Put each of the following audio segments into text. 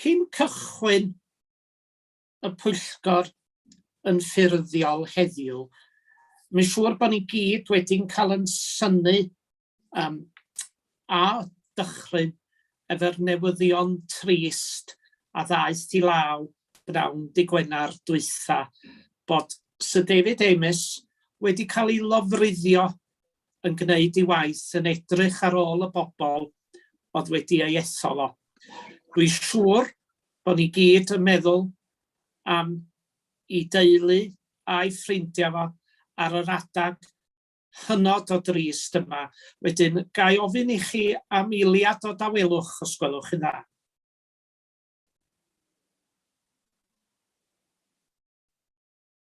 Cyn cychwyn y pwyllgor yn ffurfiol heddiw, mae'n siŵr bod ni gyd wedi'n cael yn synu um, a dychryn efo'r newyddion trist a ddaeth i law bnawn di Gwener dwytha bod Sir David Amess wedi cael ei lofruddio yn gwneud ei waith yn edrych ar ôl y bobl oedd wedi ei ethol o. Dwi siŵr bod ni gyd yn meddwl am i deulu a'i ffrindiau fo ar yr adag hynod o drist yma. Wedyn, gai ofyn i chi am eiliad o dawelwch os gwelwch chi'n dda?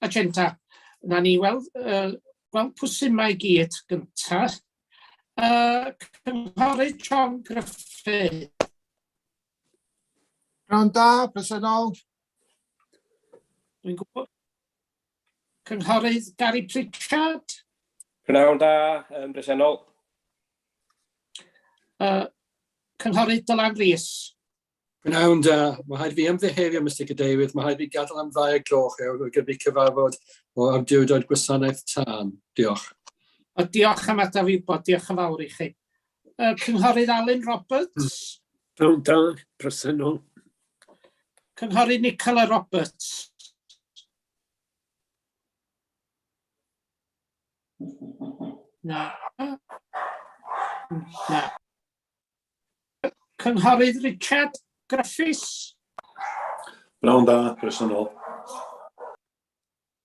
agenda. Na ni weld, uh, gweld pwysyn mae gyd gyntaf. Uh, Cynghorydd John Griffith. Rhan da, presennol. Dwi'n gwybod. Cynghorydd Gary Pritchard. Rhan da, um, presennol. Uh, Cynghorydd Dylan Rees. Pnawn da. Mae rhaid fi ymddiheurio, Mister Cadeirydd, mae rhaid fi gadael am ddau o gloch ewr ar gyfer cyfarfod o awdurdod gwasanaeth tân. Diolch. A diolch am adael fi wybod. Diolch yn fawr i chi. Uh, Cynghorydd Alun Roberts. Pnawn da, presennol. Cynghorydd Nicola Roberts. Na. Na. Cynghorydd Richard Griffiths. Pnawn da, croeso nôl.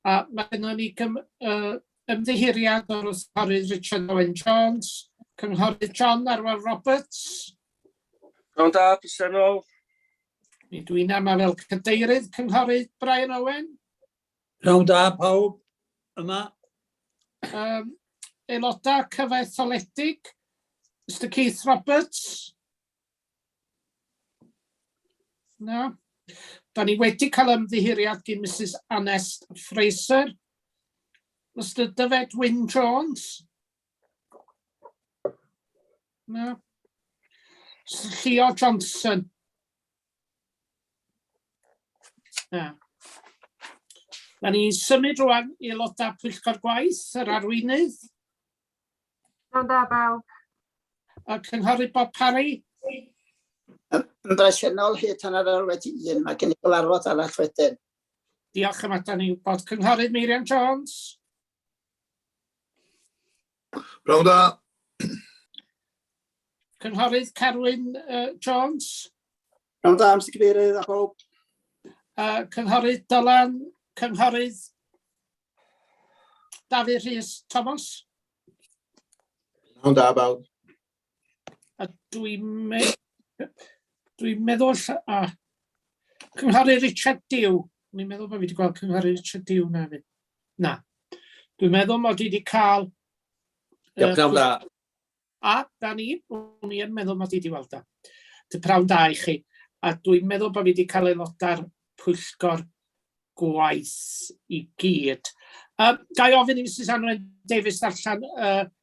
A mae yna ni gym, uh, ymddiheuriad o'r cynghorydd Richard Owen Jones, cynghorydd John Arwel Roberts. Pnawn da, croeso nôl. Mi dwi'n yma fel cadeirydd cynghorydd Brian Owen. Pnawn da pawb yma. Um, aelodau cyfaetholedig, Mr Keith Roberts. Na. Da ni wedi cael ymddihiriad gyn Mrs Anest Fraser. Mr Dyfed Wyn Jones. Na. Mr Leo Johnson. Na. Da ni symud rwan i aelodau pwyllgor gwaith, yr arweinydd. Iawn da bawb. Y cynghorydd Bob Parry. Yn bresennol hyd hanner awr wedi un, mae gen i gyfarfod arall wedyn. Diolch am adael ni wybod. Cynghorydd Meirion Jones. Pnawn da. Cynghorydd Carwyn uh, Jones. Pnawn da, Mr Cadeirydd a bob. Uh, Cynghorydd Dylan, Cynghorydd Dafydd Rhys Thomas. Pnawn da, bawb. A dwi'n me dwi meddwl... A, Cynghorydd Richard Dew. Dwi'n meddwl bod fi wedi gweld Cynghorydd Richard Dew na fi. Na. Dwi'n meddwl mod i wedi cael... Ie, pnawn da. A, da ni, o'n i'n meddwl mod i wedi weld o. Dy prawn da i chi. A dwi'n meddwl bod fi wedi cael aelodau'r pwyllgor gwaith i gyd. Um, ga i ofyn i Mrs Anwen Davies allan uh,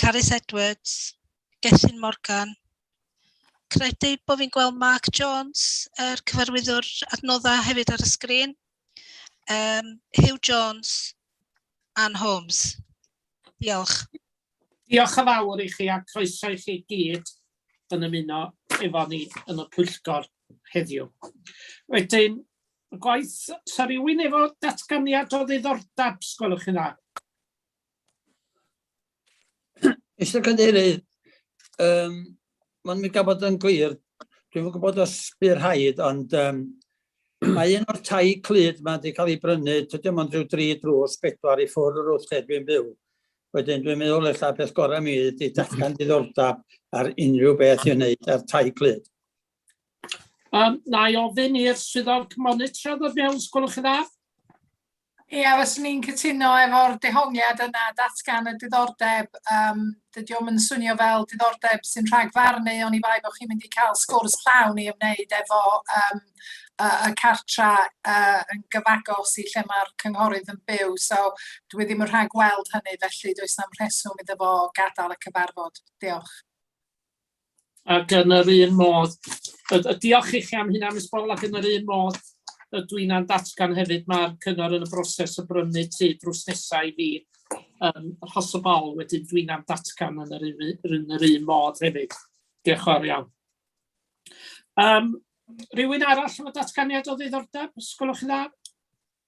Carys Edwards, Gethin Morgan. Credu bod fi'n gweld Mark Jones, yr er cyfarwyddwr adnoddau hefyd ar y sgrin. Um, Hugh Jones, Anne Holmes. Diolch. Diolch yn fawr i chi a croeso i chi gyd yn ymuno efo ni yn y pwyllgor heddiw. Wedyn, y gwaith, sa rhywun efo datganiad o ddiddordeb, sgwelwch chi'n dda? Mr Cadeirydd, um, mae'n mynd gafod yn glir, dwi'n yn gwybod os bydd rhaid, ond um, mae un o'r tai clyd mae wedi cael ei brynu, tydio ond rhyw dri drws bedwar i ffwrdd o'r wrth lle dwi'n byw. Wedyn dwi'n meddwl eich beth gorau mi ydy datgan diddordeb ar unrhyw beth i wneud ar tai clyd. Um, na i ofyn i'r swyddog monitredd o mewn, sgwrwch yn dda. Ia, fyswn i'n cytuno efo'r dehongliad yna, datgan y diddordeb. Um, dydy o'm yn swnio fel diddordeb sy'n rhagfarnu, ond i bai bod chi'n mynd i cael sgwrs llawn i ymwneud efo um, y, y cartra uh, yn gyfagos i lle mae'r cynghorydd yn byw. So dwi ddim yn rhag gweld hynny, felly does na'm rheswm iddo fo gadael y cyfarfod. Diolch. ac yn yr un modd, y, y diolch i chi am hynna, Miss Bol, ac yn yr un modd, y dwi na'n datgan hefyd, mae'r cyngor yn y broses o brynu tu drws nesau i fi um, rhos o bol, wedyn dwi na'n datgan yn yr, yn yr un modd hefyd. Diolch o'r iawn. Um, rhywun arall efo datganiad o ddiddordeb, sgwlwch yn dda?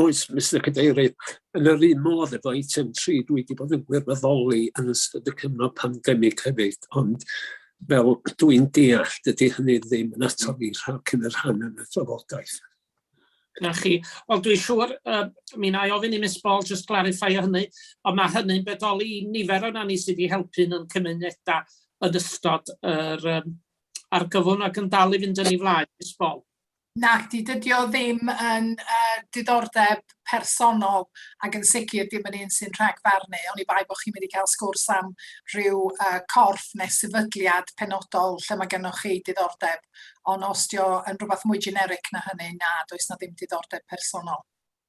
Oes, Mister Cadeirydd, yn yr un modd efo eitem tri, dwi wedi bod yn gwirfoddoli yn ystod y cyfnod pandemig hefyd, ond fel dwi'n deall, dydy hynny ddim yn atal i rhag cyn y rhan yn y trafodaeth. Na chi. Wel, dwi'n siŵr, uh, mi na i ofyn i Miss Ball just clarify o hynny, ond mae hynny'n bedoli i nifer o'na ni sydd wedi helpu yn cymunedau yn ystod yr um, argyfwng ac yn dal i fynd yn ei flaen, Miss Ball. Nacdi, dydi o ddim yn uh, diddordeb personol ac yn sicr dim yn un sy'n rhagfarnu, ond i bai bod chi'n mynd i cael sgwrs am rhyw uh, corff neu sefydliad penodol lle mae gennych chi diddordeb, ond os dio yn rhywbeth mwy generic na hynny, na, does na ddim diddordeb personol.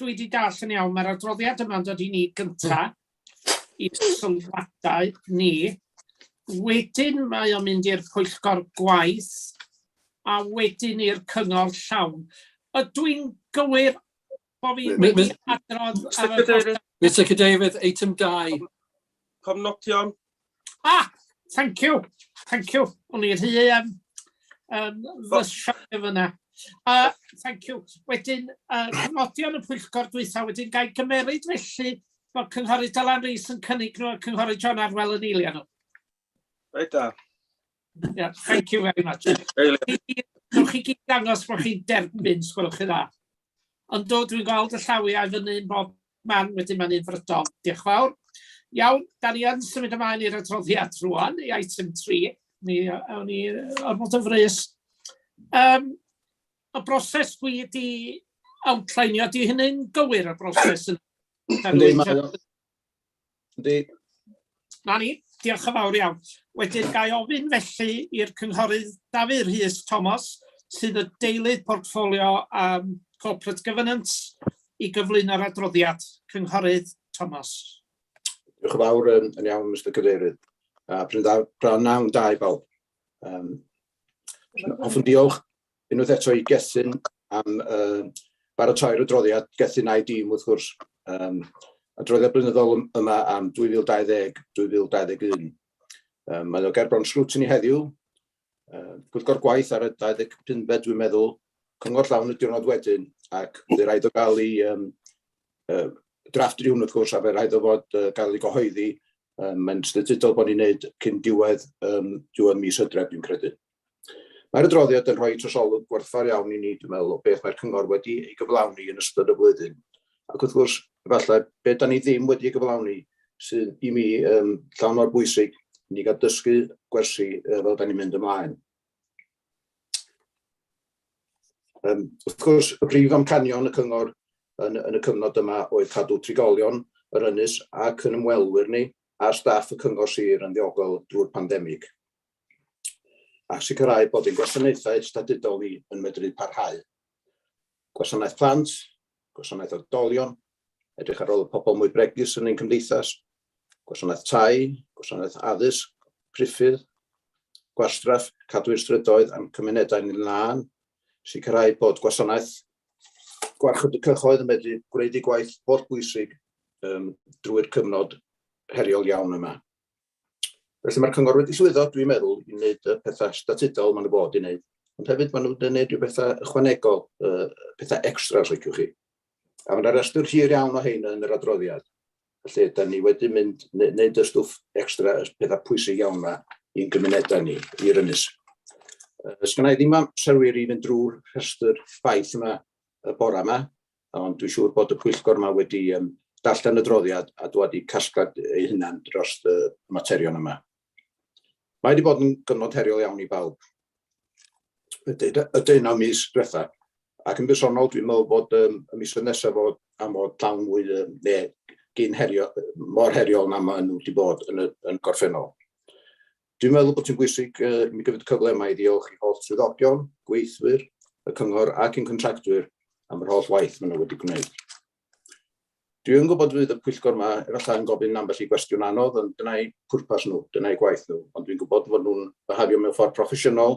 Dwi 'di dall yn iawn, mae'r adroddiad yma'n dod i ni gynta, i sylwadau ni. Wedyn mae o'n mynd i'r pwyllgor gwaith, a wedyn i'r cyngor llawn. Ydw i'n gywir bo fi wedi adrodd ar y... Mr Cadeirydd, eitem 2. Cofnodion. Ah, thank you, thank you. O'n i'n rhy um, um, fysiog efo yna. Uh, thank you. Wedyn, uh, cyngodion y pwyllgor dwytha, wedyn gael gymeryd felly bod Cynghori Dylan Rees yn cynnig nhw a Cynghori John Arwel yn eilio nhw. Reit da. Yeah, thank you very much. Dwi'n chi gyd dangos bod chi'n derbyn, sgwrwch chi dda. Ond do, dwi'n gweld y llawiau fyny yn bob man, wedyn mae'n un frydol. Diolch fawr. Iawn, da ni yn symud ymlaen i'r adroddiad rwan, i item 3. Ni, awn ni ormod yn frys. Um, y broses dwi wedi outlineio, di hynny'n gywir y broses yn... Yndi. Na ni, diolch yn fawr iawn. Wedyn gael ofyn felly i'r cynghorydd Dafydd Rhys Thomas, sydd y deilydd portffolio um, Corporate Governance, i gyflwyno'r adroddiad. Cynghorydd Thomas. Diolch yn fawr yn, yn iawn, Mr Cadeirydd. A pryndawn, pryndawn da i bawb. Um, hoffwn diolch unwaith eto i Gethin am uh, baratoi'r adroddiad. Gethin a'i dîm, wrth gwrs, um, adroddiad blynyddol yma am 2020-2021. Um, mae o gerbron sgrwtyn i heddiw, uh, pwyllgor gwaith ar y 25 fed, dwi'n meddwl, cyngor llawn y diwrnod wedyn, ac fe rhaid o gael ei um, uh, drafft rhywun wrth gwrs, a fe rhaid o fod uh, gael ei gyhoeddi, um, mae'n statudol bod ni'n neud cyn diwedd, um, diwedd mis hydref, dwi'n credu. Mae'r adroddiad yn rhoi trosolwg gwerthfawr iawn i ni, dwi'n meddwl, o beth mae'r cyngor wedi ei gyflawni yn ystod y flwyddyn. Ac wrth gwrs, efallai, be da ni ddim wedi ei gyflawni sydd i mi um, llawn mor bwysig i ni gael dysgu gwersi uh, fel da ni'n mynd ymlaen. Um, wrth gwrs, y prif amcanion y cyngor yn, yn y cyfnod yma oedd cadw trigolion yr ynys ac yn ymwelwyr ni a staff y cyngor sir yn ddiogel drwy'r pandemig. a sicrhau bod ein gwasanaethau statudol ni yn medru parhau. Gwasanaeth plant, gwasanaeth oedolion, edrych ar ôl y pobl mwy bregus yn ein cymdeithas, gwasanaeth tai, gwasanaeth addysg, priffydd, gwastraff, cadw'r strydoedd a'n cymunedau ni'n lân, sicrhau bod gwasanaeth gwarchod y cyhoedd yn medru gwneud ei gwaith holl bwysig um, drwy'r cyfnod heriol iawn yma. Felly mae'r cyngor wedi llwyddo, dwi'n meddwl, i wneud y pethau statudol maen nhw bod i wneud. Ond hefyd maen nhw'n gwneud rhyw bethau ychwanegol, uh, pethau extra os liciwch chi. A mae yna restr hir iawn o hein yn yr adroddiad. Felly, da ni wedi mynd, wneud y stwff extra, y pethau pwysig iawn yma i'n gymunedau ni, i'r ynys. Ys gynna i ddim am serwyr i fynd drwy'r rhestr ffaith yma y bora yma, ond dwi'n siŵr bod y pwyllgor yma wedi um, darllen y droddiad a dwad i casglad ei hunan dros y materion yma. Mae wedi bod yn gyfnod heriol iawn i bawb. Y deunaw mis diwetha, ac yn bersonol dwi'n meddwl bod um, y mis nesaf fod am fod llawn mwy um, ne, gyn herio, mor heriol na maen nhw wedi bod yn y, yn gorffennol. Dwi'n meddwl bod hi'n bwysig uh, mi gyfyd cyfle yma i ddiolch i holl swyddogion, gweithwyr, y cyngor ac yn contractwyr am yr holl waith maen nhw wedi gwneud. Dwi yn gwybod fydd y pwyllgor yma efallai yn gofyn ambell i gwestiwn anodd, ond dyna'i pwrpas nhw, dyna'i gwaith nhw, ond dwi'n gwybod fod nhw'n byhafio mewn ffordd proffesiynol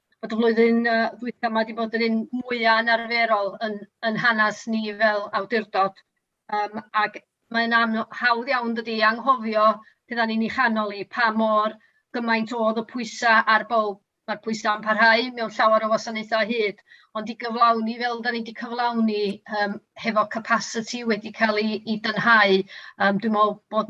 bod y flwyddyn uh, ddwytha yma wedi bod yn un mwyaf yn arferol yn, yn hanes ni fel awdurdod. Um, ac mae'n hawdd iawn dydy anghofio pe da ni'n ei chanol i pa mor gymaint oedd y pwysau ar bob Mae'r pwysau yn parhau mewn llawer o wasanaethau hyd, ond i gyflawni fel da ni wedi cyflawni um, hefo capacity wedi cael ei, ei dynhau, um, dwi'n meddwl bod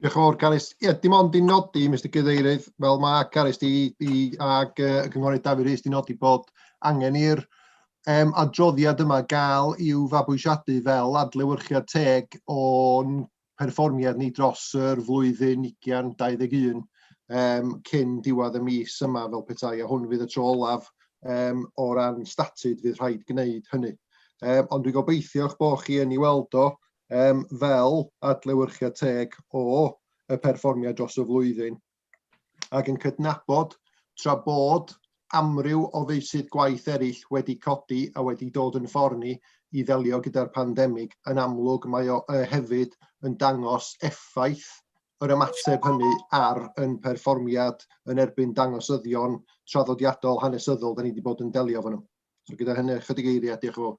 Diolch yn fawr, Carys. Ie, dim ond i nodi, Mister Cadeirydd, fel mae Carys di, di ag y Cynghorydd Dafydd Rees di nodi bod angen i'r um, adroddiad yma gael i'w fabwysiadu fel adlewyrchiad teg o'n perfformiad ni dros yr flwyddyn 2021 um, cyn diwedd y mis yma fel petai, a hwn fydd y tro olaf um, o ran statud fydd rhaid gwneud hynny. Um, ond dwi'n gobeithio'ch bod chi yn ei weld o, Yym, fel adlewyrchiad teg o y perfformiad dros y flwyddyn, ac yn cydnabod, tra bod amryw o feysydd gwaith eraill wedi codi a wedi dod yn ffordd ni i ddelio gyda'r pandemig, yn amlwg mae o yy hefyd yn dangos effaith yr ymateb hynny ar yn perfformiad yn erbyn dangosyddion traddodiadol hanesyddol da ni wedi bod yn delio efo nhw. So gyda hynny, ychydig eiriau, diolch yn fawr.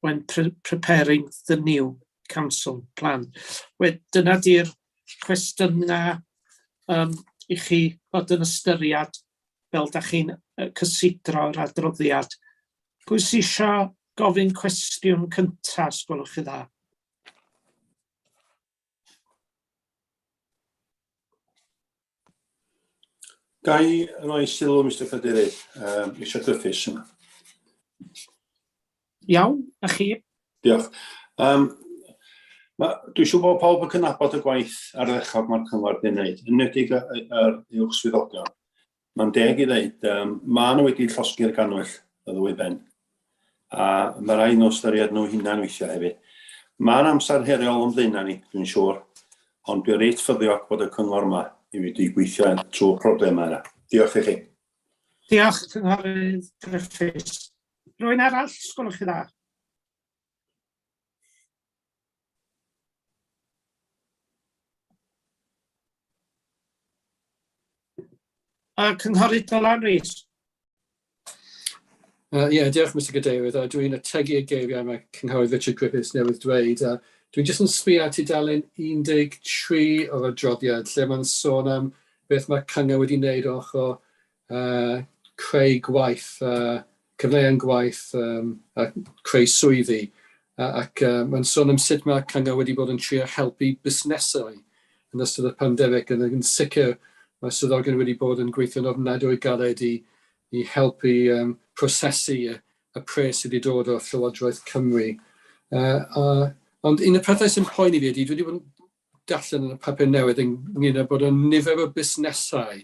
when pre preparing the new council plan. We- dyna di'r cwestiynau yym i chi fod yn ystyried fel da chi'n cysidro'r adroddiad. Pwy sy isio gofyn cwestiwn cynta, os gwelwch chi'n dda? Ga i roi sylw, Mr Cadeirydd, um, eisiau gryffus yma. Iawn, a chi? Diolch. Um, ma, dwi siw bod pawb yn cynabod y gwaith ar ddechrau mae'r cyngor wedi wneud, yn nedig yr uwch swyddogion. Mae'n deg i ddeud, yym, maen nhw wedi llosgi'r gannwyll, y ddwy ben. A mae rhaid nhw ystyried nhw hunain weithiau hefyd. Mae'n amser heriol o'n blaenau ni, dwi'n siŵr, ond dwi'n reit ffyddiog bod y cyngor yma i wedi gweithio trwy problemau yna. Diolch i chi. Diolch, Cynghorydd Gruffydd. Rwy'n arall, sgwlwch chi dda. A Cynghorydd Dylan Rees. Uh, yeah, diolch Mr Gadeirydd, a dwi'n ategu y geiriau mae Cynghorydd Richard Griffiths newydd dweud. A dwi'n jyst yn sbio at tudalen 13 o'r adroddiad lle mae'n sôn am beth mae cyngor wedi wneud ochr uh, creu gwaith, uh, cyfleon gwaith um, a creu swyddi. Uh, ac uh, mae'n sôn am sut mae cyngor wedi bod yn trio helpu busnesau yn ystod y pandemig, yn, yn sicr mae swyddogion wedi bod yn gweithio'n ofnadwy galed i, i helpu um, prosesu y, y pres sydd wedi dod o Llywodraeth Cymru. Uh, uh, ond un y pethau sy'n poeni fi ydy, dwi wedi bod yn darllen yn y papur newydd ynglyn â bod y nifer o busnesau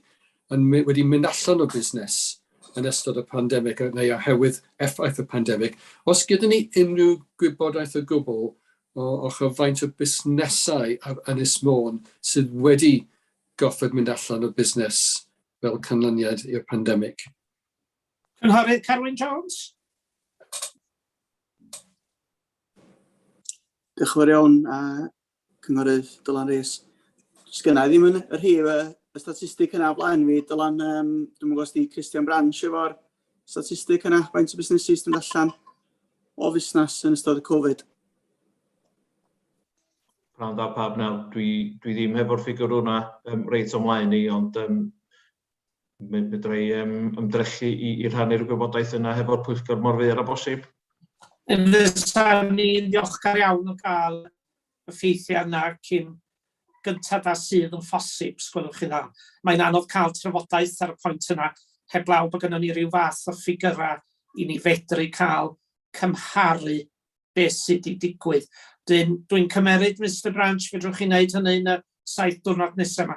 yn my- wedi mynd allan o busnes yn ystod y pandemig yy neu oherwydd effaith y pandemig. Os gyda ni unrhyw gwybodaeth o gwbl o ochr faint o busnesau ar Ynys Môn sydd wedi gorfod mynd allan o busnes fel canlyniad i'r pandemig? Cynghorydd Carwyn Jones. Diolch yn fawr iawn a Cynghorydd Dylan Rees. Sgynna i ddim yn y rhif y, y statistig yna o blaen fi. Dylan, um, dwi'n gwybod os di Christian Branch efo'r statistig yna, faint o busnesu sy'n allan o fusnes yn ystod y Covid. Prawn dda pawb nawr, dwi, dwi ddim hefo'r ffigwr hwnna um, reit o'm mlaen i, ond um, mi fedra i um, ymdrechu i, i rhannu'r gwybodaeth yna hefo'r pwyllgor mor fyr a bosib. Fysa'n ni'n ddiolchgar iawn o gael y ffeithiau yna cyn gyntaf a sydd yn ffosib, sgwelwch chi dda. Mae'n anodd cael trafodaeth ar y pwynt yna, heblaw bod gennym ni rhyw fath o ffigyrau i ni fedru cael cymharu beth sydd wedi digwydd. Dwi'n dwi cymeryd, Mr Branch, fedrwch chi wneud hynny yn y saith diwrnod nesaf yma.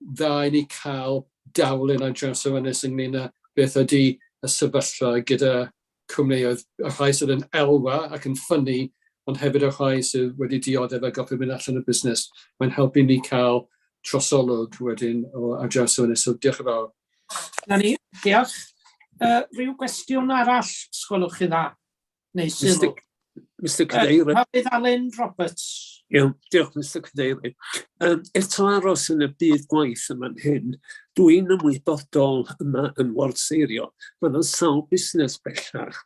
dda i ni cael darlun ar draws yr ynys ynglyn â beth ydy y sefyllfa gyda cwmnïoedd, y rhai sydd yn elwa ac yn ffynnu, ond hefyd y rhai sydd wedi dioddef a gorfod mynd allan o busnes. Mae'n helpu ni cael trosolwg wedyn o ar draws yr ynys, so diolch yn fawr. Na ni, diolch. Uh, rhyw gwestiwn arall, sgwelwch chi dda? Neu sylw. Mr Cadeirydd. Uh, Hafydd Alun Roberts. Iawn, diolch Mr Cadeirydd. Um, eto aros yn y byd gwaith yma'n hyn, dwi'n ymwybodol yma yn Ward Seirio, mae yna sawl busnes bellach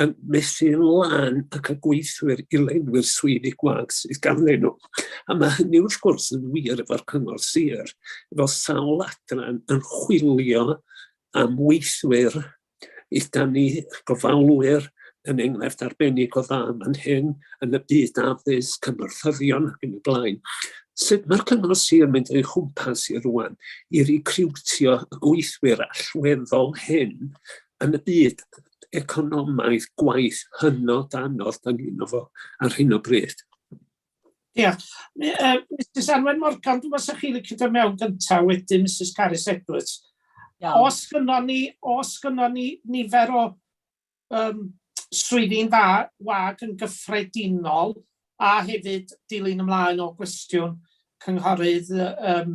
yn methu lan ac y gweithwyr i lenwi'r swyddi gwag sydd ganddyn nhw. A mae hynny wrth gwrs yn wir efo'r cyngor sir, efo sawl adran yn chwilio am weithwyr Ydan ni gofalwyr yn enghraifft arbennig o dda fan hyn yn y byd addysg, cymorthyddion ac yn y blaen. Sut mae'r cyngor sir yn mynd o'i chwmpas i rwan i recriwtio y gweithwyr allweddol hyn yn y byd economaidd gwaith hynod anodd dan ni'n o fo ar hyn o bryd? Ia. Mi- yy Misus Anwen Morgan dwi me'wl 'sa chi licio do' mewn gynta wedyn Misus Carys Edwards. Iawn. Os gynnon ni os gynnon ni nifer o yym swyddi'n dda wag yn gyffredinol a hefyd dilyn ymlaen o gwestiwn cynghorydd yy yym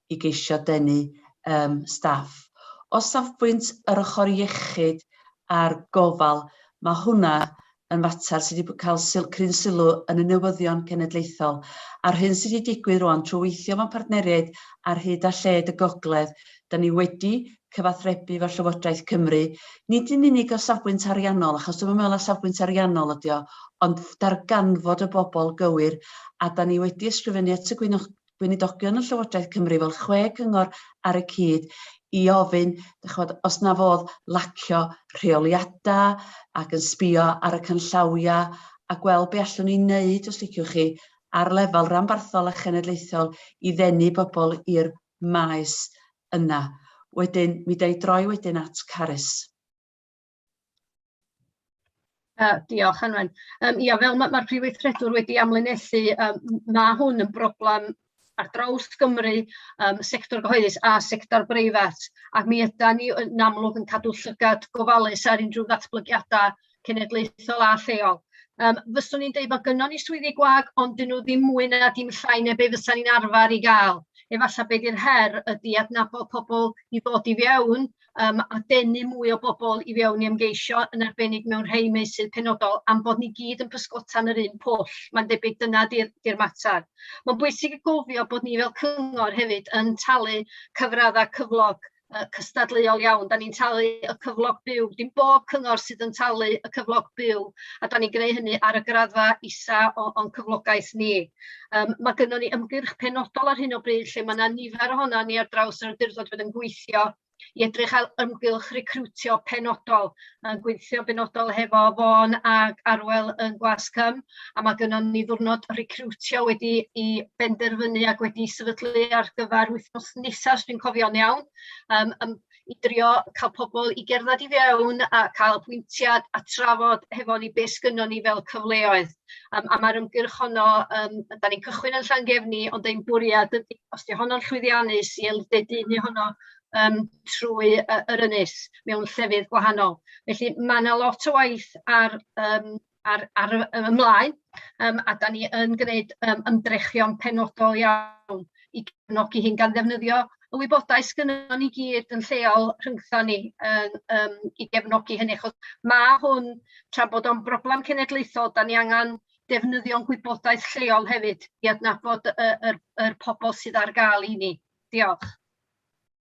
i geisio denu yym staff. O safbwynt yr ochr iechyd a'r gofal, mae hwnna yn fater sydd wedi cael syl- cryn sylw yn y newyddion cenedlaethol, a'r hyn sydd wedi digwydd rwan trwy weithio mewn partneriaid ar hyd a lled y gogledd, da ni wedi cyfathrebu efo Llywodraeth Cymru, nid yn unig o safbwynt ariannol, achos dwi'm yn meddwl na safbwynt ariannol ydi o, ond darganfod y bobl gywir, a da ni wedi ysgrifennu at y gweinidogion yn Llywodraeth Cymru fel chwe cyngor ar y cyd i ofyn, dych chod, os na fodd lacio rheoliadau ac yn sbio ar y canllawiau a gweld be allwn ni wneud, os liciwch chi, ar lefel ranbarthol a chenedlaethol i ddenu bobl i'r maes yna. Wedyn, mi da i droi wedyn at Carys. Yy diolch Anwen. Yym ia fel ma' ma'r Prif Weithredwr wedi amlinellu yym m- ma' hwn yn broblem ar draws Gymru yym sector gyhoeddus a sector breifat a mi ydan ni yn amlwg yn cadw llygad gofalus ar unrhyw ddatblygiada cenedlaethol a lleol. Yym fyswn i'n deud ma' gynnon ni swyddi gwag ond 'dyn nhw ddim mwy na dim llai na be' fysan ni'n arfar 'i ga'l efalla be' 'di'r her ydi adnabod pobol i ddod i fewn um, a denu mwy o bobl i fewn i ymgeisio, yn arbennig mewn rhai meysydd penodol, am bod ni gyd yn pysgota'n yr un pwll. Mae'n debyg dyna di'r di mater. Mae'n bwysig i gofio bod ni fel cyngor hefyd yn talu cyfraddau cyflog uh, cystadleuol iawn. Da ni'n talu y cyflog byw. Dim bob cyngor sydd yn talu y cyflog byw, a da ni'n gwneud hynny ar y graddfa isa o'n cyflogaeth ni. Yym ma' gynnon ni ymgyrch penodol ar hyn o bryd lle ma' 'na nifer ohonan ni ar draws yr awdurdod fydd yn gweithio i edrych ar ymgylch recriwtio penodol, yn gweithio benodol hefo Fôn ac Arwel yn Gwasg-cwm, a ma' gynnon ni ddiwrnod recriwtio wedi i benderfynu ac wedi sefydlu ar gyfer wythnos nesa os dwi'n cofio'n iawn. Yym yym i drio cael pobl i gerdded i fewn a cael apwyntiad a trafod hefo ni beth sgynnon ni fel cyfleoedd. Um, a mae'r ymgyrch honno, um, da ni'n cychwyn yn Llangefni, ond ein bwriad ydy, os di honno'n llwyddiannus, i elfedu ni honno um, trwy uh, yr ynys mewn llefydd gwahanol. Felly mae yna lot o waith ar um, ar ar y y ymlaen, yym a 'dan ni yn gneud yym ymdrechion penodol iawn i gefnogi hyn gan ddefnyddio y wybodaeth sgynnon ni gyd yn lleol rhyngtho ni yn yym i gefnogi hynny achos ma' hwn tra bod o'n broblam cenedlaethol 'dan ni angan defnyddio'n gwybodaeth lleol hefyd i adnabod y y yr pobol sydd ar ga'l i ni. Diolch.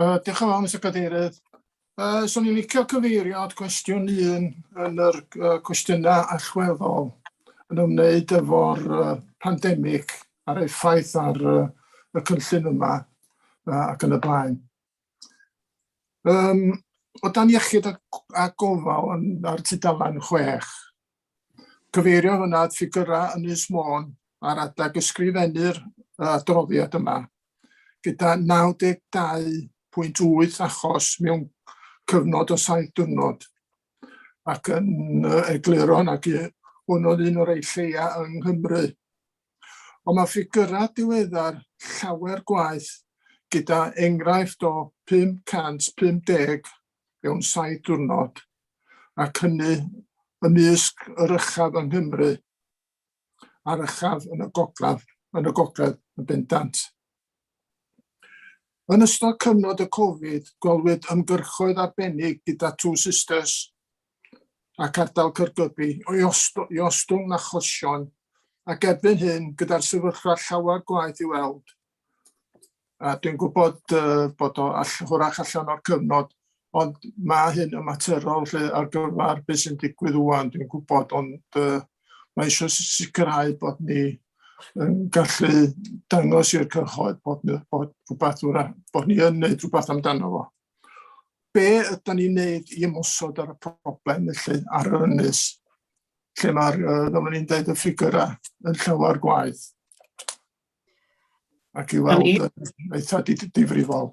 Uh, diolch yn fawr, Mr Cadeirydd. Uh, so ni'n licio cyfeirio at gwestiwn un yn yr uh, cwestiynau allweddol yn ymwneud efo'r uh, pandemig a'r effaith ar uh, y cynllun yma uh, ac yn y blaen. Um, o dan iechyd a, a gofal yn, ar tudalen 6, cyfeirio hwnna at ffigurau yn Ynys Môn ar adag ysgrifennu'r adroddiad yma, gyda 92.8 achos mewn cyfnod o saith diwrnod, ac yn egluro nag hwn oedd un o'r ei lleia yng Nghymru. Ond mae ffigyrau diweddar llawer gwaeth gyda enghraifft o 550 mewn saith diwrnod, ac hynny ymysg yr uchaf yng Nghymru a'r uchaf yn y gogledd yn bendant. Yn ystod cyfnod y Covid, gwelwyd ymgyrchoedd arbennig gyda Two Sisters ac Ardal Caergybi i osto- i ostwng achosion ac erbyn hyn, gyda'r sefyllfa llawer gwaeth i weld, a dwi'n gwybod uh, bod o all, hwrach allan o'r cyfnod, Ond mae hyn yn materol lle ar gyfer beth sy'n digwydd wwan, dwi'n gwybod, ond uh, mae eisiau sicrhau bod ni yn gallu dangos i'r cyhoedd bod, bod, rhywbeth, bod ni yn gwneud rhywbeth amdano fo. Be ydym ni'n gwneud i ymwysod ar y problem felly ar yr ynys, lle mae'r, uh, fel ni'n dweud, y ffigurau yn llawer gwaith? Ac i weld yn eitha difrifol.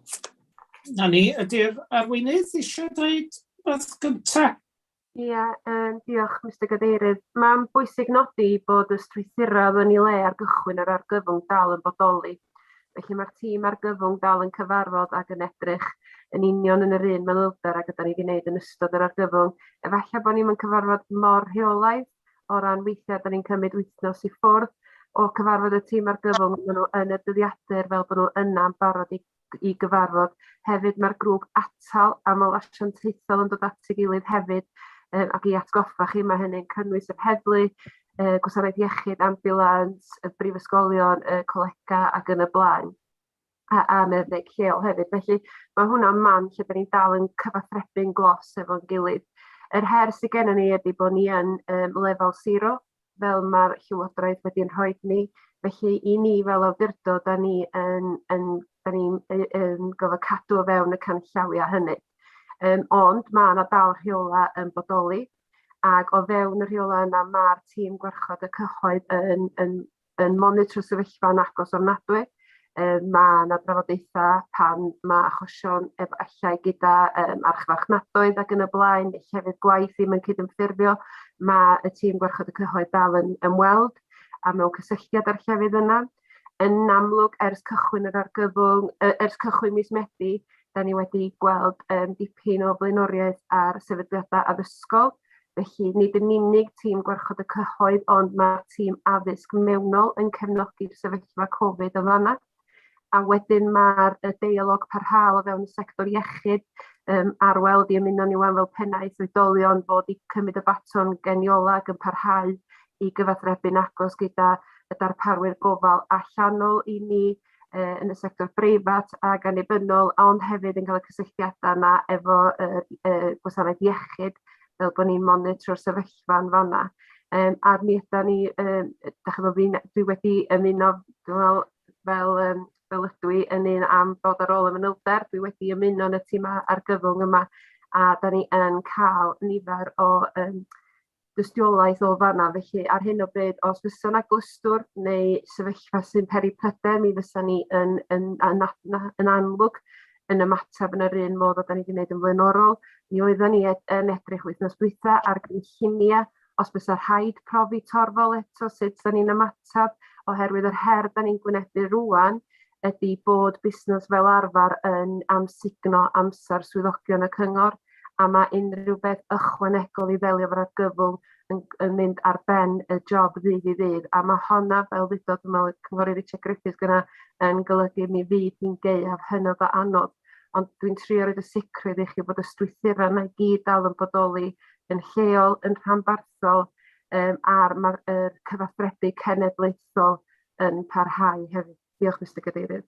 Na ni, ydy'r arweinydd eisiau dweud wrth gyntaf? Ia, um, diolch Mr Gadeirydd. Mae'n bwysig nodi bod y strwythurau yn ei le ar gychwyn yr argyfwng dal yn bodoli. Felly mae'r tîm argyfwng dal yn cyfarfod ac yn edrych yn union yn yr un manylder ag yda ni wedi gwneud yn ystod yr argyfwng. Efallai bod ni'n cyfarfod mor rheolaidd o ran weithiau, da ni'n cymryd wythnos i ffwrdd o cyfarfod y tîm ar gyfwng, maen nhw yn y dyddiadur fel bod nhw yna'n barod i, i gyfarfod. Hefyd mae'r grŵp atal aml asiantaethol yn dod at ei gilydd hefyd um, ac i atgoffa chi mae hynny'n cynnwys yr heddlu, uh, gwasanaeth iechyd, ambulans, y brifysgolion, y colega ac yn y blaen. a, a meddyg lleol hefyd. Felly mae hwnna'n man lle byddwn ni'n dal yn cyfathrebu'n glos efo'n gilydd. Yr her sydd gennym ni ydy bod ni yn um, lefel siro, fel mae'r llywodraeth wedi'n rhoi ni. Felly i ni fel awdurdod, da ni yn, yn, da ni yn, yn gofod cadw o fewn y canllawiau hynny. Um, ond mae yna dal rheola yn bodoli ac o fewn y rheola yna mae'r tîm gwarchod y cyhoedd yn, yn yn monitro sefyllfa yn agos ofnadwy. Um, mae yna drafodaethau pan mae achosion efallai gyda um, archfarchnadoedd ac yn y blaen, neu llefydd gwaith ddim yn cydymffurfio. Mae y tîm gwarchod y cyhoedd dal yn ymweld a mewn cysylltiad â'r llefydd yna. Yn amlwg, ers cychwyn yr argyfwng, ers cychwyn mis Medi, da ni wedi gweld um, dipyn o blaenoriaeth ar sefydliadau addysgol, Felly, nid yn unig tîm gwarchod y cyhoedd, ond mae'r tîm addysg mewnol yn cefnogi'r sefyllfa Covid yn fanna. A wedyn mae'r deialog parhaol o fewn y sector iechyd um, ar weld i ymuno ni wan fel pennaeth oedolion fod i cymryd y baton geniola ac yn parhau i gyfathrebu'n agos gyda y darparwyr gofal allanol i ni uh, yn y sector breifat ac annibynnol, ond hefyd yn cael y cysylltiadau yna efo uh, uh, gwasanaeth iechyd, fel bod ni'n monitro'r sefyllfa yn fanna. Um, a mi yda ni, um, da chi'n fi, dwi wedi ymuno fel, fel, um, fel ydw i yn un am bod ar ôl y manylder, dwi wedi ymuno yn y tîm argyfwng yma, a da ni yn cael nifer o um, dystiolaeth o fanna felly ar hyn o bryd os fysa 'na glystwr neu sefyllfa sy'n peri pryder mi fysa ni yn yn yn a- na- yn amlwg yn ymateb yn yr un modd â 'dan ni 'di neud yn flaenorol. Mi oeddan ni e- yn edrych wythnos dwytha ar gynllunia os bysa rhaid profi torfol eto sut 'dan ni'n ymateb oherwydd yr her 'dan ni'n gwynebu rŵan ydi bod busnas fel arfar yn amsugno amsar swyddogion y cyngor. a mae unrhyw beth ychwanegol i ddelio efo'r argyfwng yn, yn mynd ar ben y job ddydd i ddydd. A mae honna, fel ddudodd, dwi'n meddwl, Cynghorydd Richard Griffiths gyna, yn golygu mi fydd hi'n gaeaf hynod o anodd. Ond dwi'n trio roed y sicrwydd i chi bod y strwythurau yna i gyd dal yn bodoli yn lleol, yn rhanbarthol, um, a'r mae'r er cyfathrebu cenedlaethol yn parhau hefyd. Diolch, Mr Cadeirydd.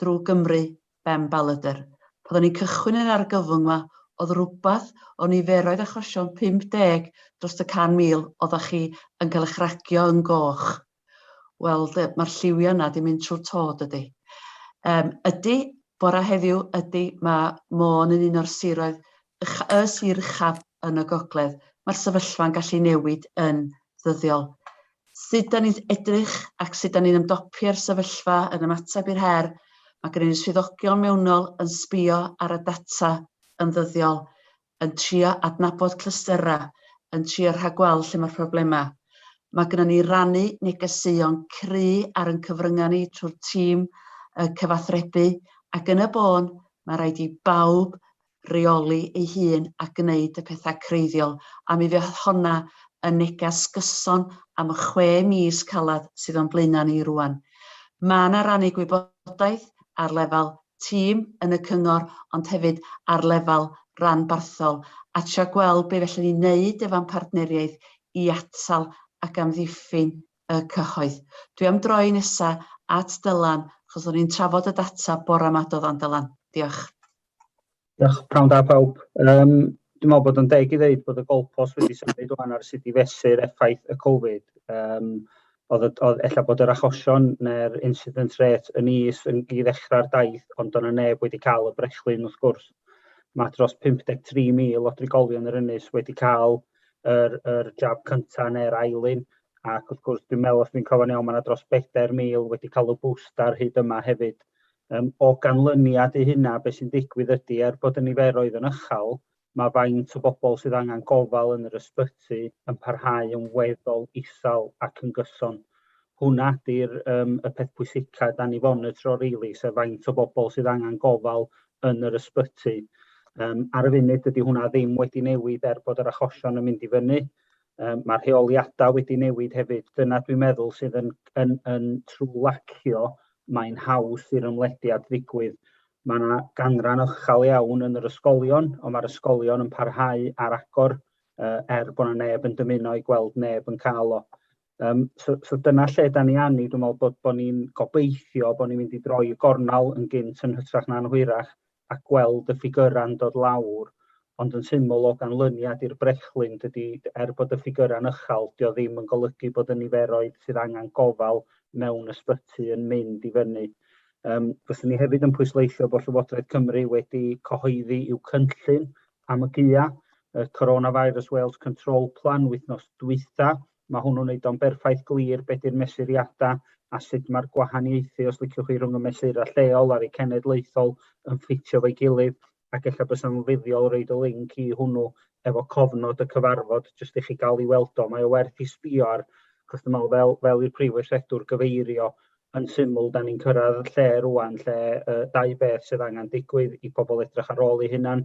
drwy Gymru, Ben Balladr. Pan o'n i'n cychwyn yn argyfwng 'ma, o'dd rwbath o niferoedd achosion 50 drost y 100,000 odda chi yn cael eich ragio yn goch. Wel, de, ma'r lliwia' yna 'di mynd trwy'r to, dydi? Yym, ydi, bora heddiw, ydi, ma' Môn yn un o'r siroedd y sir uchaf yn y gogledd, mae'r sefyllfa'n gallu newid yn ddyddiol. Sut da ni'n edrych ac sut da ni'n ymdopi â'r sefyllfa yn ymateb i'r her, mae gen i swyddogion mewnol yn sbio ar y data yn ddyddiol, yn trio adnabod clystyrau, yn trio rhagweld lle mae'r problemau. Mae gennym ni rannu negeseuon cry ar yn cyfryngau ni trwy'r tîm cyfathrebu ac yn y bôn mae rhaid i bawb reoli ei hun a gwneud y pethau creiddiol, a mi fydd honna yn neges gyson am y chwe mis caled sydd o'n blaenau ni rŵan. Mae yna rannu gwybodaeth ar lefel tîm yn y cyngor, ond hefyd ar lefel ranbarthol, a trio gweld be fellwn ni wneud efo'n partneriaeth i atal ac amddiffyn y cyhoedd. Dwi am droi nesa at Dylan, achos o'n i'n trafod y data bore 'ma, do ddan Dylan? Diolch. Diolch, prawn da pawb. Um, dwi'n meddwl bod yn deg i ddeud bod y golpos wedi symud o'n ar sut i fesur effaith y Covid. Um, oedd, oedd ella bod yr achosion neu'r incident rate yn is yn i ddechrau'r daith, ond o'n y neb wedi cael y brechlyn wrth gwrs. Mae dros 53,000 o drigolion yr ynys wedi cael yr, yr jab cyntaf neu'r ailun, ac wrth gwrs dwi'n meddwl os dwi'n cofio'n iawn mae yna dros 4,000 wedi cael y booster hyd yma hefyd. Yym, o ganlyniad i hynna, beth sy'n digwydd ydy, er bod y niferoedd yn uchel, mae faint o bobl sydd angen gofal yn yr ysbyty yn parhau yn weddol isel ac yn gyson. Hwna ydy'r um, y peth pwysicaf da ni fonitro rili, sef faint o bobl sydd angen gofal yn yr ysbyty. Um, ar y funud dydy hwnna ddim wedi newid er bod yr achosion yn mynd i fyny. Um, mae rheoliadau wedi newid hefyd. Dyna dwi'n meddwl sydd yn, yn, yn trwy lacio, mae'n haws i'r ymlediad ddigwydd. Mae yna ganran ychal iawn yn yr ysgolion, ond mae'r ysgolion yn parhau ar agor uh, er bod yna neb yn dymuno i gweld neb yn cael o. Um, so, so dyna lle da ni anni, dwi'n meddwl bod, bod ni'n gobeithio bod ni'n mynd i droi y gornel yn gynt yn hytrach na'n hwyrach, a gweld y ffigyrau'n dod lawr ond yn syml o ganlyniad i'r brechlyn dydy er bod y ffigyrau'n ychal dio ddim yn golygu bod y niferoedd sydd angen gofal mewn ysbyty yn mynd i fyny. Um, fyswn ni hefyd yn pwysleisio bod Llywodraeth Cymru wedi cyhoeddi i'w cynllun am y GIA, y Coronavirus Wales Control Plan wythnos dwytha, Mae hwnnw'n wneud o'n berffaith glir be di'r mesuriadau a sut mae'r gwahaniaethu, os liciwch chi, rhwng y mesurau lleol a'r eu cenedlaethol yn ffitio efo'i gilydd, ac ella bysa'n fuddiol roid y linc i hwnnw efo cofnod y cyfarfod jyst i chi gael i weld o. Mae o werth i sbio ar, achos dwi'n meddwl fel, fel i'r Prif Weithredwr gyfeirio yn syml, da ni'n cyrraedd lle rŵan lle yy dau beth sydd angen digwydd i pobl edrych ar ôl eu hunan,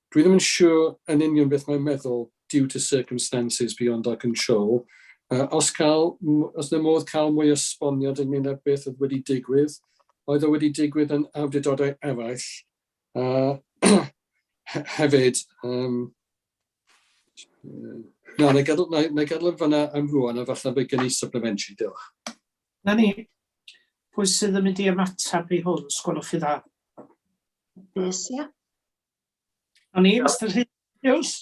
Dwi ddim yn siwr yn union beth mae'n meddwl due to circumstances beyond our control. Uh, os cael, os na modd cael mwy o sboniad ynglyn â beth oedd wedi digwydd, oedd o wedi digwydd yn awdurdodau eraill. Uh, hefyd, um, na, na gadw, na, na gadw fyna am rwan, a falle fe gen i supplementary, diolch. Na ni, pwy sydd yn mynd i ymateb i hwn, sgwelwch chi dda? Nes, ia. O'n i, Mr Rhys.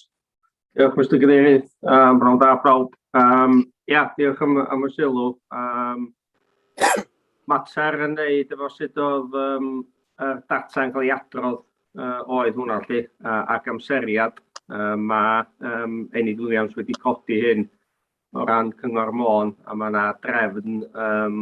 Diolch, Mr Cadeirydd. Um, Rhawn da, prawb. Um, ia, diolch am, am y sylw. Um, mater yn neud efo sut oedd um, y data yn cael ei adrodd uh, oedd hwnna lle, uh, ac amseriad. Uh, mae um, Enid Williams wedi codi hyn o ran Cyngor Môn, a mae yna drefn um,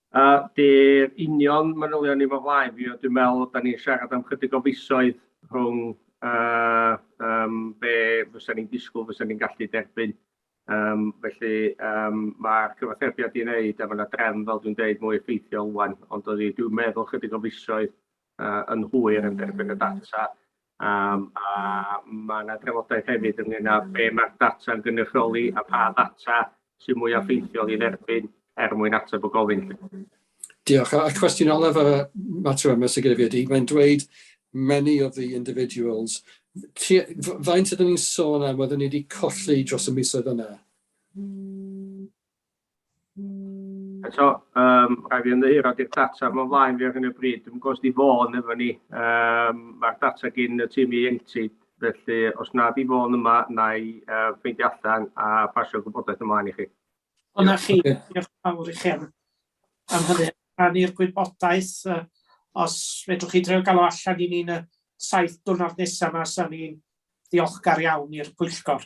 A dy'r union manylion ni fo flaen fi, ond dwi'n meddwl da ni'n siarad am chydig o fisoedd rhwng uh, um, be fysa ni'n disgwyl fysa ni'n gallu derbyn. Um, felly um, mae'r cyfathrebiad i'n wneud a mae yna drefn fel dwi'n dweud mwy effeithiol wan, ond dwi'n meddwl chydig o fisoedd yn hwyr yn derbyn y data, um, a mae yna drafodaeth hefyd ynglyn â be mae'r data yn gynrychioli a pa ddata sy'n mwyaf ffeithiol i dderbyn er mwyn ateb y gofyn. Diolch. A cwestiwn olaf y mater yma sy'n gyda fi ydy, mae'n dweud many of the individuals. Faint ydyn ni'n sôn am oedden ni wedi colli dros y misoedd yna? Eto, um, rhaid fi ymddeheuro di'r data mae'n flaen fi ar hyn o bryd. Dwi'n gwybod di fôn efo ni. Um, Mae'r data gyn y tîm ieuenctid, felly os na di fôn yma, na i uh, ffeindio allan a pasio gwybodaeth ymlaen i chi. O na chi, diolch fawr i chi am, am hynny. Rhan i'r gwybodaeth, uh, os fedrwch chi dreo galw allan i ni'n y saith dwrnod nesaf yma, sa'n ni'n ddiolchgar iawn i'r pwyllgor.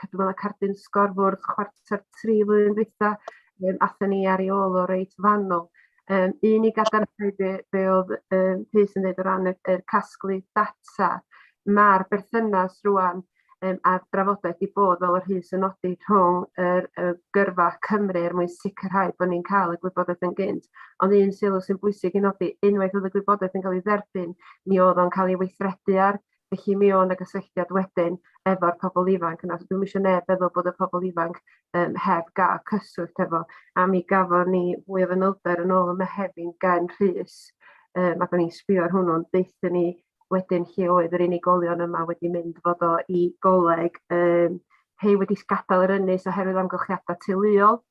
cadw fel y cardyn sgorfwrdd chwarter tri flwyddyn dwytha, um, athyn ni ar ei ôl o reit fanol. Um, un i gadarnhau be, be oedd um, Rhys yn dweud o ran y, y casglu data, mae'r berthynas rwan um, a'r drafodaeth i bod fel yr hys yn nodi rhwng yr, y gyrfa Cymru er mwyn sicrhau bod ni'n cael y gwybodaeth yn gynt. Ond un sylw sy'n bwysig i nodi, unwaith oedd y gwybodaeth yn cael ei dderbyn, mi oedd o'n cael ei weithredu ar Felly mi o'n y gysylltiad wedyn efo'r pobl ifanc yna. So dwi'm eisiau neb feddwl bod y pobl ifanc um, heb gael cyswllt efo. A mi gafon ni fwy o fanylder yn ôl y Mehefin gen Rhys. Um, ac o'n i'n sbio ar hwnnw'n deuthyn ni wedyn lle oedd yr unigolion yma wedi mynd fod o i goleg. Um, hei wedi gadael yr ynys oherwydd amgylchiadau teuluol.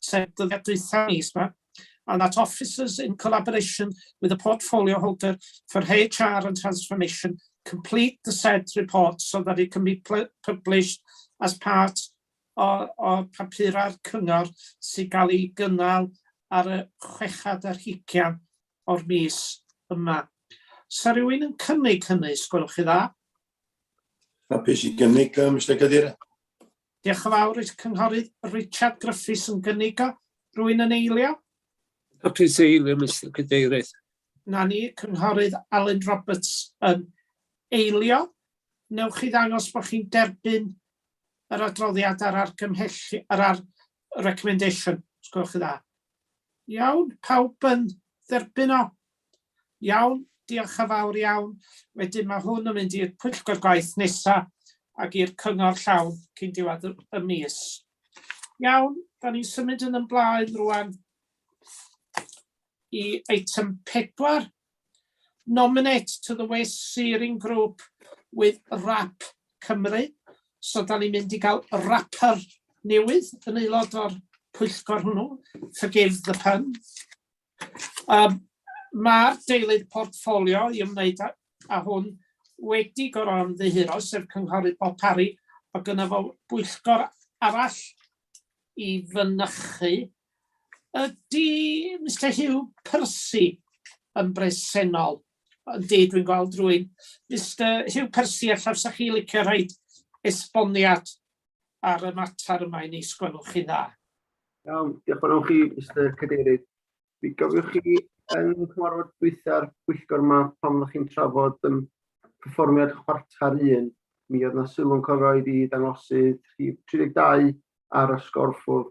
sef dyddiad dwytha mis ma, and that officers in collaboration with the portfolio holder for HR and transformation complete the said report so that it can be published as part o, o papurau'r cyngor sy'n cael ei gynnal ar y chwechad ar hugian o'r mis yma. Sa rhywun yn cynnig hynny, sgwelwch chi dda? Hapus i gynnig, Mr Cadeirydd. Diolch yn fawr i'r Cynghorydd Richard Gruffydd yn gynigo. Rwy'n yn eilio? Ac yn eilio, Mister Cadeirydd. Na ni, Cynghorydd Alun Roberts yn eilio. Newch chi ddangos bod chi'n derbyn yr adroddiad a'r argymhellion, yr ar, recommendation, os gwelwch yn dda. Iawn, pawb yn dderbyn o? Iawn, diolch yn fawr iawn. Wedyn mae hwn yn mynd i'r pwyllgor gwaith nesaf ac i'r cyngor llawn cyn diwedd y mis. Iawn, da ni'n symud yn ymlaen rwan i eitem pedwar, nominate to the West Searing Group with Rap Cymru. So, da ni'n mynd i gael rapper newydd yn aelod o'r pwyllgor hwnnw. Forgive the pun. Um, Mae'r deilydd portffolio i ymwneud â, â hwn wedi gorau ymddiheuro, sef cynghorydd Bob Parry, a gyda fo bwyllgor arall i fynychu Ydy Mister Hugh Percy yn bresennol? Ydy, dwi'n gweld rwy'n. Mister Hugh Percy, a llawsa chi licio rhaid esboniad ar y mater yma i ni, sgwelwch chi dda. Iawn, diolch fawr chi, Mister Cadeirydd. Mi gofiwch chi yn cyfarfod dwytha'r pwyllgor yma pan fyddwch chi'n trafod um, perfformiad chwarter un, mi oedd yna sylw'n cofroedd i ddangosydd 32 ar y sgorffwrdd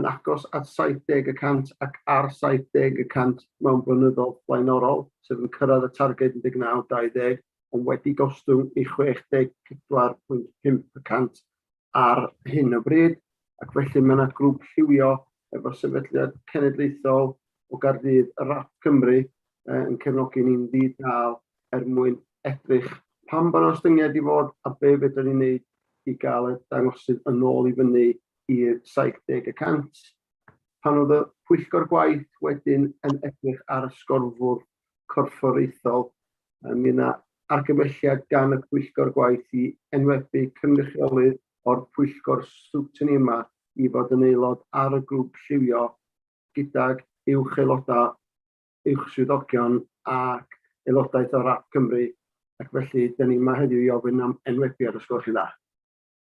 yn agos at 70 y cant ac ar 70 y cant mewn blynyddoedd blaenorol, sef yn cyrraedd y targed 19, 20, ond wedi gostwng i 64.5 y cant ar hyn o bryd, ac felly mae yna grŵp lliwio efo sefydliad cenedlaethol o Gaerdydd, y RAP Cymru, yn cefnogi ni'n ddi-dal er mwyn edrych pam bod yna ostyngiad i fod a be fedrwn ni'n wneud i gael y dangosydd yn ôl i fyny i'r 70 y cant. Pan oedd y pwyllgor gwaith wedyn yn edrych ar y sgorfwr corfforaethol, mi yna argymelliad gan y pwyllgor gwaith i enwebu cynrychiolydd o'r pwyllgor sgwtini yma i fod yn aelod ar y grŵp lliwio gydag uwch aelodau, uwch swyddogion ac aelodaeth o RAP Cymru ac felly, da ni yma heddiw i ofyn am enwebiad os gwelwch chi'n dda.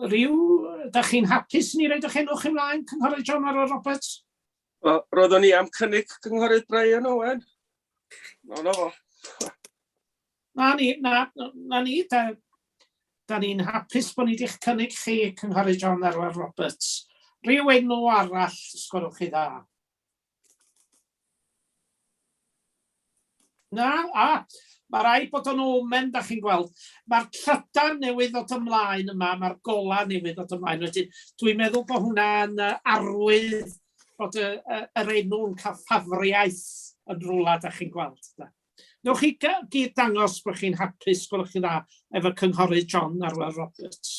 Ryw, da chi'n hapus ni roed eich enw chi mlaen, Cynghorydd John Arwel Roberts? O, roeddwn i am cynnig Cynghorydd Brian Owen. No, no. Na ni, na, na ni, da, da ni'n hapus bod ni wedi'ch cynnig chi, Cynghorydd John Arwel Roberts. Rhyw enw arall, sgorwch chi dda. Na? A, mae rhaid bod o'n omen, da chi'n gweld. Mae'r trydan newydd ddod ymlaen yma, mae'r gola newydd ddod ymlaen. Wedyn, dwi'n meddwl bod hwnna'n arwydd bod y, y, yr enw'n cael ffafriaeth yn rhywle, da chi'n gweld. Da. Newch chi gyd dangos bod chi'n hapus, gwelwch chi dda, efo cynghorydd John Arwel Roberts.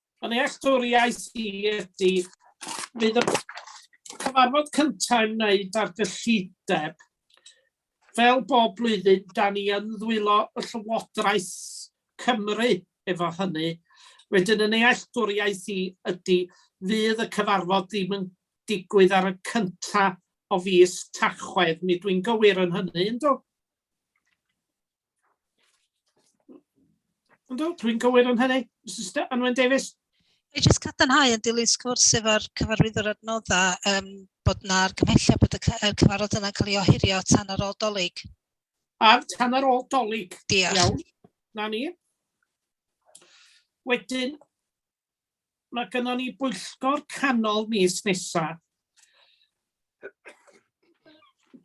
Fy nealltwriaeth i ydy, bydd y cyfarfod cyntaf yn wneud ar gyllideb. Fel bob blwyddyn, da ni yn ddwylo y Llywodraeth Cymru efo hynny. Wedyn y nealltwriaeth i ydy, fydd y cyfarfod ddim yn digwydd ar y cyntaf o fis Tachwedd, mi dwi'n gywir yn hynny, yndw? Ynddo, dwi'n gywir yn hynny. Mr Anwen Davies. I jyst cadarnhau yn dilyn sgwrs efo'r cyfarwyddwr adnodda um, bod yna argymhelliad bod y cyfarfod yna'n cael ei ohirio tan ar ôl dolyg. Ar tan ar ôl dolyg. Diolch. Iawn. Na ni. Wedyn, Mae gynnon ni bwyllgor canol mis nesa.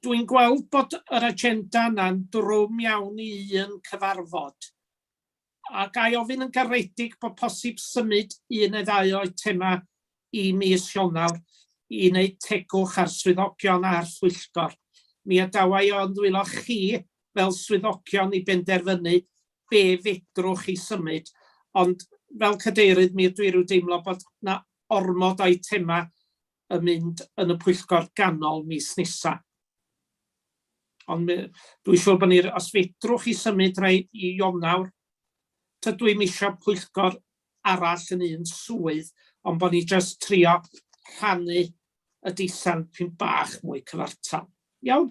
Dwi'n gweld bod yr agenda yna'n drwm iawn i un cyfarfod. A ga i ofyn yn garedig bod posib symud un neu ddau o eitema i mis Ionawr i wneud tegwch ar swyddogion a'r phwyllgor. Mi adawa i o'n ddwylo chi fel swyddogion i benderfynu be fedrwch chi symud, ond fel cadeirydd mi ydw i rhyw deimlo bod na ormod o eitemau yn mynd yn y pwyllgor ganol mis nesa. Ond dwi'n siŵr bod ni, os fedrwch chi symud rhai i Ionawr, tydw i'n eisiau pwyllgor arall yn un swydd, ond bod ni jyst trio rhannu y deisen pyn bach mwy cyfartal. Iawn?